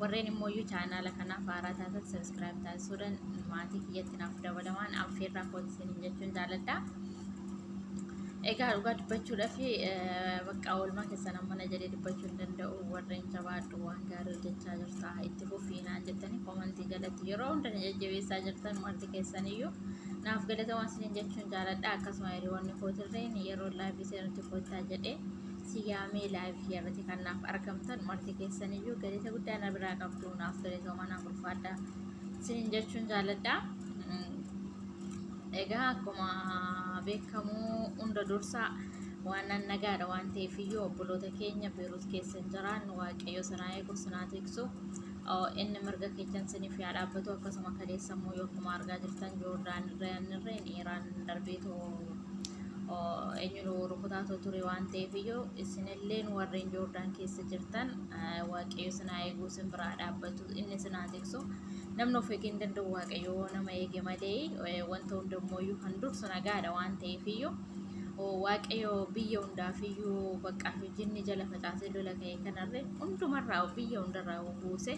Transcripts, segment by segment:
Warreen immoo iyyuu chaanaala kanaaf haaraa taatan sabiskiraayib taasisuudhaan maatii kiyyatti naaf dabalamaan affeerraa kooti isiniin jechuun jaaladha. Egaa dhugaa dubbachuudhaaf bakka oolmaa keessan amma na jedhee dubbachuu hin danda'u warreen jabaadhu waan gaarii hojjechaa jirta itti fufiinaan jettanii koomantii jalatti yeroo hunda na jajjabeessaa jirtan marti keessaniyyuu naaf galatamaa isiniin jechuun jaaladha akkasuma hiriyoonni kootirreen yeroo laayifii seenutti koottaa jedhee siyaamee live kiyarratti kan naaf argamtan marti keessan iyyuu galata guddaa na biraa qabdu naaf galatooma naaf ulfaadha sinin jechuun jaaladha egaa akkuma beekamu hunda dursaa waan nan nagaadha waan ta'eef iyyuu obboloota keenya beeruus keessan jiraan waaqayyo sanaa eeguuf sanaa tiksu inni mirga keessan siniif yaa dhaabbatu akkasuma kaleessa immoo yoo akkuma argaa jirtan joordaan irra yaannirreen iiraan darbeetoo eenyutu rukutaa ture waan ta'eef iyyuu isinilleen warreen joordaan keessa jirtan waaqayyo sinaa eeguu sin biraa dhaabbatu inni sinaa tiksu namni of eegee hin danda'u waaqayyo nama eege malee wanta hundammoo iyyuu kan dursu nagaadha waan ta'eef iyyuu waaqayyo biyya hundaaf iyyuu bakka hojinni jala facaasee lola ka'e kanarre hundumarraa biyya hundarraa buuse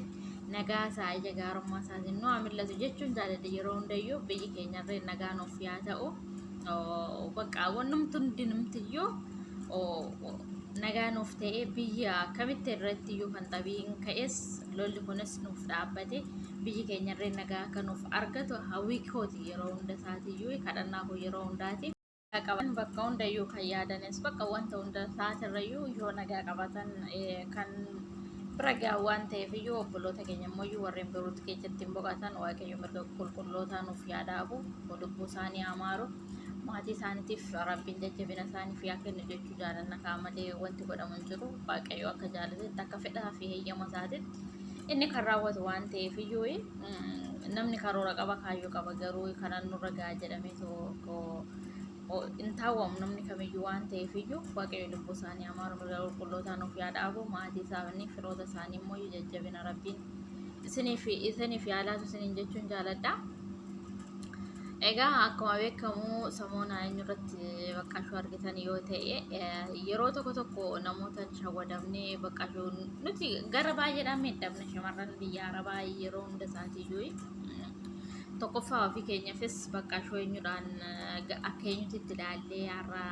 nagaa isaa ija gaarummaa isaatiin nu haa mil'atu jechuun jaaladha yeroo hundayyuu biyyi keenyarree nagaa nuuf yaa ta'u. Oh, Bakka wannumti hundinumtiyyuu oh, oh, nagaa nuuf ta'ee biyya akkamitti irratti iyyuu kan xabiin ka'es lolli kunis nuuf dhaabbate biyyi keenya irree nagaa akka nuuf argatu hawwii kooti yeroo hunda isaatiyyuu kadhannaa koo yeroo hundaati. Nagaa qaban bakka hundayyuu kan yaadanis bakka wanta hunda isaatirrayyuu yoo nagaa qabatan eh, kan bira ga'a waan ta'eef iyyuu obboloota keenya immoo iyyuu warreen biruutti keessatti hin boqatan waaqayyo mirga qulqullootaa nuuf yaadaabu. lubbuu isaanii haa maaru maatii isaaniitiif rabbiin jajjabina isaaniif yaa kennu jechuu jaalanna kaa malee wanti godhamu hin jiru waaqayyo akka jaalatetti akka fedhaa fi heeyyama isaatitti inni kan raawwatu waan ta'eef iyyuu mm, namni karoora qaba kaayyoo qaba garuu kanaan nurra ga'a jedhamee tokko o- hin taawwamu namni kamiyyuu waan ta'eef iyyuu waaqayyo lubbuu isaanii amaaru mirga qulqullootaa nuuf yaa dhaabu maatii isaanii firoota isaanii immoo jajjabina rabbiin isiniif isiniif yaalaatu isiniin jechuun jaaladha. Egaa akkuma beekamu samoona eenyurratti baqqashuu argitan yoo ta'e yeroo tokko tokko namoota shawwadamnee baqqashuu nuti gara baay'eedhaan miidhamna shamarran biyya arabaa yeroo hunda isaatiiyyuu tokkoffaa ofii keenyafis baqqashuu eenyudhaan akka eenyutti itti ilaallee har'a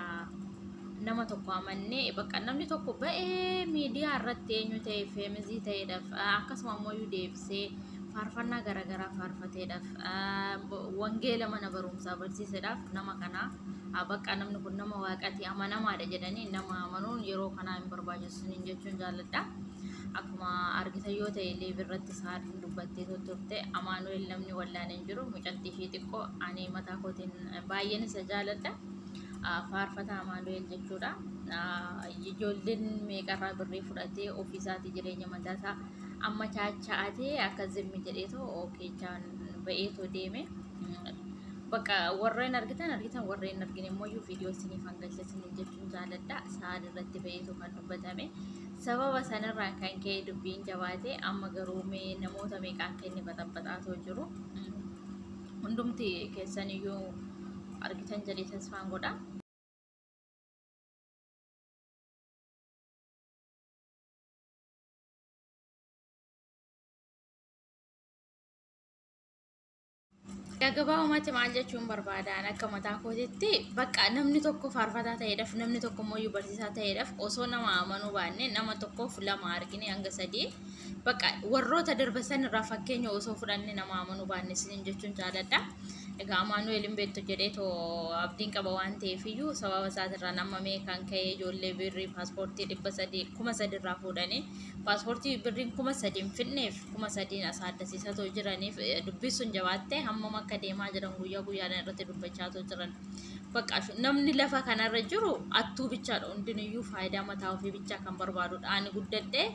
nama tokko amannee bakka namni tokko ba'ee miidiyaa irratti eenyu ta'e feemizii ta'eedhaaf akkasuma ammoo deebisee faarfannaa garaagaraa faarfateedhaaf wangeela mana barumsaa barsiiseedhaaf nama kana bakka namni kun nama waaqati amanamaadha jedhanii nama amanuun yeroo kanaa hin barbaachisu hin jechuun jaalladha. Akkuma argitan yoo ta'e illee birratti saadin dubbattee turte amaanu'el namni wallaan hin jiru mucatti ishee xiqqoo ani mataa kootiin baay'een isa jaalladha. faarfataa Amaanu'eel jechuudha. Ijoolleen meeqarraa birrii fudhatee ofiisaatii jireenya mataasaa amma chaacha'atee akka zimmi jedheetu keechaan ba'eetu deeme. Bakka warreen argitan argitan warreen argine immoo viidiyoo isiniif hangalcha isiniin jechuun jaaladha. Sa'aan irratti ba'eetu kan dubbatame. Sababa sanarraa kan ka'e dubbiin jabaate amma garuu mee namoota meeqaa akka inni baxaxaxaatoo jiru. hundumti keessan iyyuu argitan jedhee tasfaan godha. Gagabaa uumatti maal jechuun barbaadaan akka mataa kootitti bakka namni tokko faarfataa ta'eedhaaf namni tokko immoo barsiisaa ta'eedhaaf osoo nama amanuu baannee nama tokkoof lama argine hanga sadii Bakka warroota darba san irraa fakkeenya osoo fudhanne nama amanuu baanne isiniin jechuun jaaladha. Egaa Amaanu'eel hin beektu jedhee too abdiin qaba waan ta'eef iyyuu sababa isaatirraan amma mee kan ka'e ijoollee birrii paaspoortii dhibba sadii kuma sadii irraa fuudhanii paaspoortii birriin kuma sadiin fidneef kuma sadiin asaa addasiisaa too jiraniif eh, dubbisuun jabaattee hammam akka deemaa jiran guyyaa guyyaadhaan irratti dubbachaa too jiran. Bakka shu- namni lafa kanarra jiru attuu bichaadha hundinuyyuu faayidaa mataa ofii bichaa kan barbaadudha. Ani guddadhee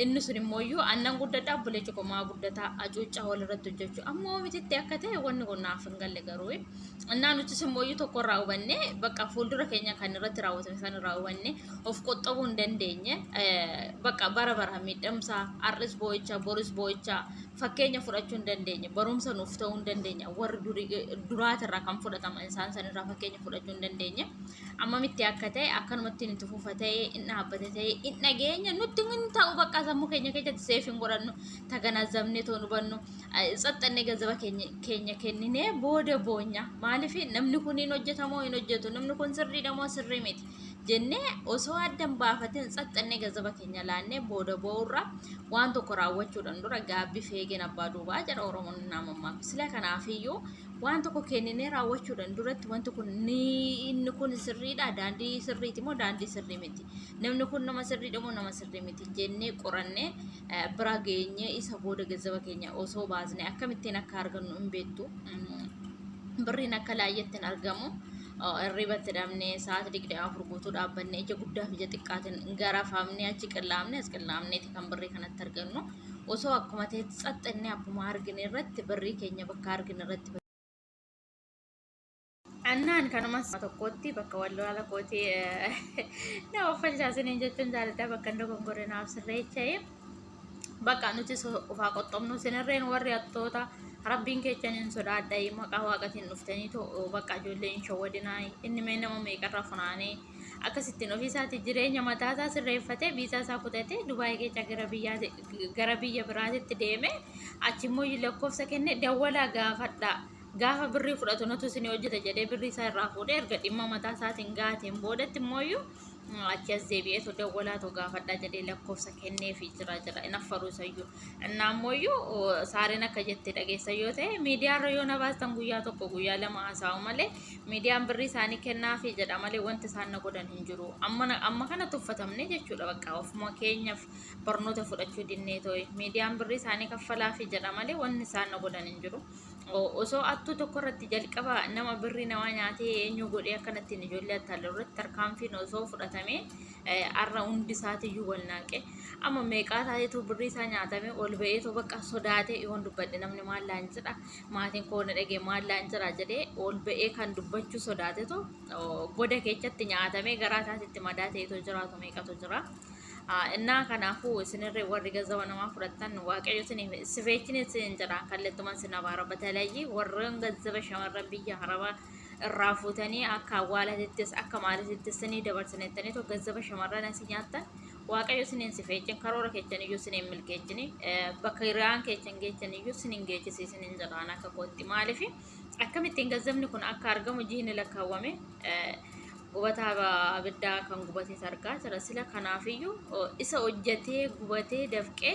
Inni sun immoo iyyuu annan guddadha obboleechi koo maa guddataa acuuccaa walirratti hojjechuu amma oomititti akka ta'e wanni kun naaf hin galle garuu annaa nutis immoo iyyuu tokko irraa hubanne bakka fuuldura keenya kan irratti raawwatame san irraa hubanne of qoxxabuu hin dandeenye bakka bara bara miidhamsa har'is boo'icha boris boo'icha fakkeenya fudhachuu hin dandeenye barumsa nuuf ta'uu hin dandeenye warri duraatirraa kan fudhataman isaan sanirraa fakkeenya fudhachuu hin dandeenye. ammamitti akka ta'e akkanumatti nuti fufa ta'e in dhaabbata ta'e in dhageenya nutti hin ta'u bakka sammuu keenya keessatti seef hin godhannu taganazabnee too nu bannu tsaxxannee gazaba keenya kenninee booda boonya maaliif namni kun hin hojjetamoo hin hojjetu namni kun sirriidha moo sirrii miti jennee osoo addan baafatin tsaxxannee gazaba keenya laannee booda boo'urra waan tokko raawwachuudhaan dura gaabbii feegeen abbaa duubaa jedha oromoon naamammaa sila kanaafiyyuu waan tokko kenninee raawwachuudhaan duratti wanti kun ni inni kun sirriidha daandii sirriiti moo daandii sirrii miti namni kun nama sirriidha moo nama sirrii miti jennee qorannee eh, bira geenyee isa booda gazzaba keenya osoo baasne akkamittiin akka argannu hin beektu Mm, birriin akka laayyeetti hin argamu Oh, irribatti dhabnee sa'aatii digdamii afur guutuu dhaabbanne ija guddaa fi ija xiqqaatiin garafamnee achi qillaamne as qillaamneeti kan birrii kanatti argannu osoo akkuma ta'etti xaxxannee akkuma argine irratti birrii keenya bakka argine irratti annaan kanuma tokkotti bakka wallola kooti na offalchaasiniin jechuun jaalladha bakka dogongore naaf sirreecha'e bakka nuti ofaa qoxxomnu sinirreen warri attoota rabbiin kechan hin sodaadha maqaa waaqatiin dhuftanii bakka ijoollee hin shawwadinaa inni mee nama meeqarra funaanee Akkasittiin ofii isaatii jireenya mataa isaa sirreeffatee biisaa isaa kutatee Dubaayii keessa gara biyyaa gara biyya biraatitti deeme achi immoo lakkoofsa kenne dawwalaa gaafadha gaafa birrii fudhatu nutu isin hojjeta jedhee birrii isaa irraa fuudhee erga dhimma mataa isaatiin gaateen boodatti immoo achi as deebi'eetu dawwalaatu gaafadha jedhee lakkoofsa kenneefi jira jira hin affaru isayyuu. Innaa ammoo saareen akka jette dhageessan yoo ta'e miidiyaarra yoo na baastan guyyaa tokko guyyaa lama haasa'u malee miidiyaan birrii isaanii kennaafi jedha malee wanti isaan na godhan hin jiru. Amma na- amma kana tuffatamne jechuudha bakka ofuma keenyaaf barnoota fudhachuu dinnee ta'e miidiyaan birrii isaanii kaffalaafi jedha malee wanti isaan na godhan hin jiru. O- Osoo attuu tokko irratti jalqaba nama birrii namaa nyaatee eenyu godhee akkanattiin ijoollee attaalu irratti tarkaanfiin osoo fudhatamee har'a hundi isaatiyyuu wal naaqe amma meeqaa taateetu birrii isaa nyaatame ol ba'eetu bakka sodaatee yoon dubbadhe namni maal laan jedha maatiin koo na dhagee maal laan jira jedhee ol ba'ee kan dubbachuu sodaatetu goda keessatti nyaatamee garaa isaatitti madaa ta'eetu jiraatu meeqatu jira. Innaa kanaafuu isinirree warri gazawa namaa fudhattan waaqayyo sifeechini isin jedha kallattumaan sin abaara batalayyii warreen gazaba shamarran biyya harabaa irraa fuutanii akka awwaalatittis akka maalitittis ni dabarsinettanii too gazzaba shamarran asii nyaattan waaqayyo sin hin sifeechin karoora kechan iyyuu sin hin milkeechini bakka hiriyaan kechan geechan iyyuu sin hin geechisiisin hin jedhaan akka kootti maaliif akkamittiin gazzabni kun akka argamu jiini lakkaawwame gubataa abiddaa kan gubatees argaa jira sila kanaafiyyuu isa hojjatee gubatee dafqee